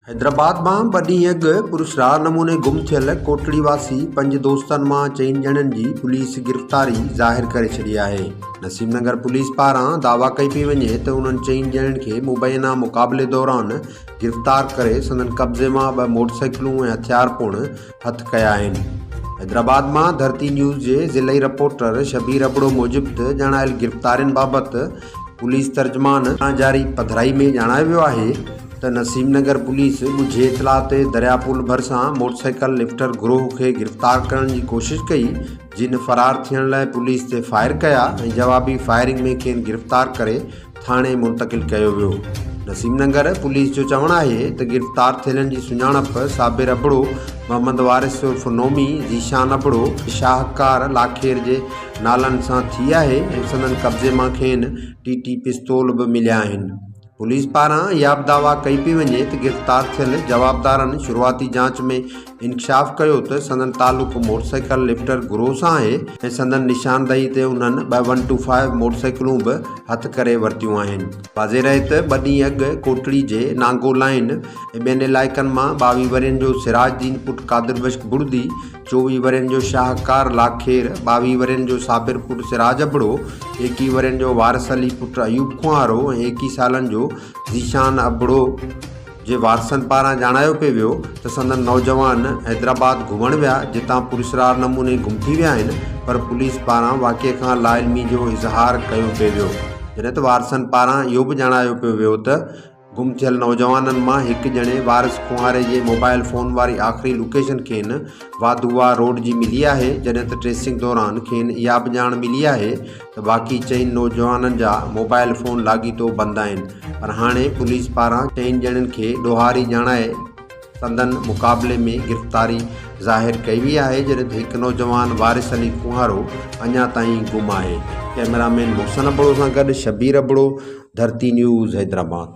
حيدرآباد مان ٻه ڏينهن اڳ پراسرار نموني گم ٿيل ڪوٽڙي واسي پنج دوستن مان چئن ڄڻن جي پوليس گرفتاري ظاهر ڪري ڇڏي آهي. نسيم نگر پوليس پاران دعويٰ ڪئي پئي وڃي ته انهن چئن ڄڻن کي مبينا مقابلي دوران گرفتار ڪري سندن قبضي مان ٻه موٽرسائيڪلون ۽ هٿيار پڻ هٿ ڪيا آهن. حيدرآباد مان ڌرتي نيوز جي ضلعي رپورٽر شبير ابڙو موجب ته ڄاڻايل گرفتارين بابت پوليس ترجمان پاران جاري پڌرائي ۾ ڄاڻايو ويو آهي ته نسيم نگر پوليس ڳجهي اطلاع تي دريا پول ڀرسان موٽرسائيڪل لفٽر گروهه کي گرفتار ڪرڻ جي ڪوشش ڪئي جن فرار ٿيڻ لاء پوليس تي فائر ڪيا ۽ جوابي فائرنگ ۾ کين گرفتار ڪري ٿاڻي منتقل ڪيو ويو نسيم نگر پوليس جو چوڻ آهي ته گرفتار ٿيلن جي سڃاڻپ صابر ابڙو محمد وارث عرف نومي ذيشان ابڙو شاهڪار لاکير جي نالن سان ٿي آهي ۽ سندن قبضي مان کين ٽي ٽي پستول به مليا آهن. پوليس پاران اهابه دعويٰ ڪئي پئي وڃي ته گرفتار ٿيل جوابدارن شروعاتي جاچ ۾ انڪشاف ڪيو ته سندن تعلق موٽرسائيڪل لفٽر گروهه سان آهي ۽ سندن نشاندهي تي انهن ٻه ون ٽو فائيو موٽرسائيڪلون به هٿ ڪري ورتيون آهن. واضح رهي ته ٻه ڏينهن اڳ ڪوٽڙي جي نانگو لائين ۽ ٻين علائقن مان ٻاويهه ورهين جو سراج دين پٽ قادر بخش بڙدي، چوويهه ورهين جو شاهڪار لاکير، ٻاويهه ورهين جو صابر پٽ سراج ابڙو، ايڪيهه ورهين جو وارث علي پٽ ايوب کوهارو ۽ ايڪيهه سالن جو ذيشان ابڙو جي وارثن پاران ڄاڻايو پئي ويو ته سندن نوجوان حيدرآباد گهمڻ ويا جتان پراسرار نموني گم ٿي ويا آهن پر پوليس پاران واقعي کان لاعلمي جو اظهار ڪيو پئي ويو جڏهن ته وارثن پاران اهو به ڄاڻايو پيو ويو ته گم ٿيل نوجوانن مان هڪ ڄڻي وارث کوهاري جي موبائل فون واري آخري لوڪيشن کين واڌوا روڊ جي ملي آهي جڏهن ته ٽريسنگ دوران کين اها به ڄاڻ ملي آهي ته باقي چئن نوجوانن جا موبائل فون لاڳيتو بند آهن پر هاڻي پوليس پاران چئن ڄڻن کي ڏوهاري ڄاڻائي سندن مقابلي ۾ گرفتاري ظاهر ڪئي وئي آهي جڏهن ته هڪ نوجوان وارث علي کوهارو اڃا تائين گم آهي. ڪئميرا مين محسن ابڙو سان گڏ شبير ابڙو، ڌرتي نيوز حيدرآباد.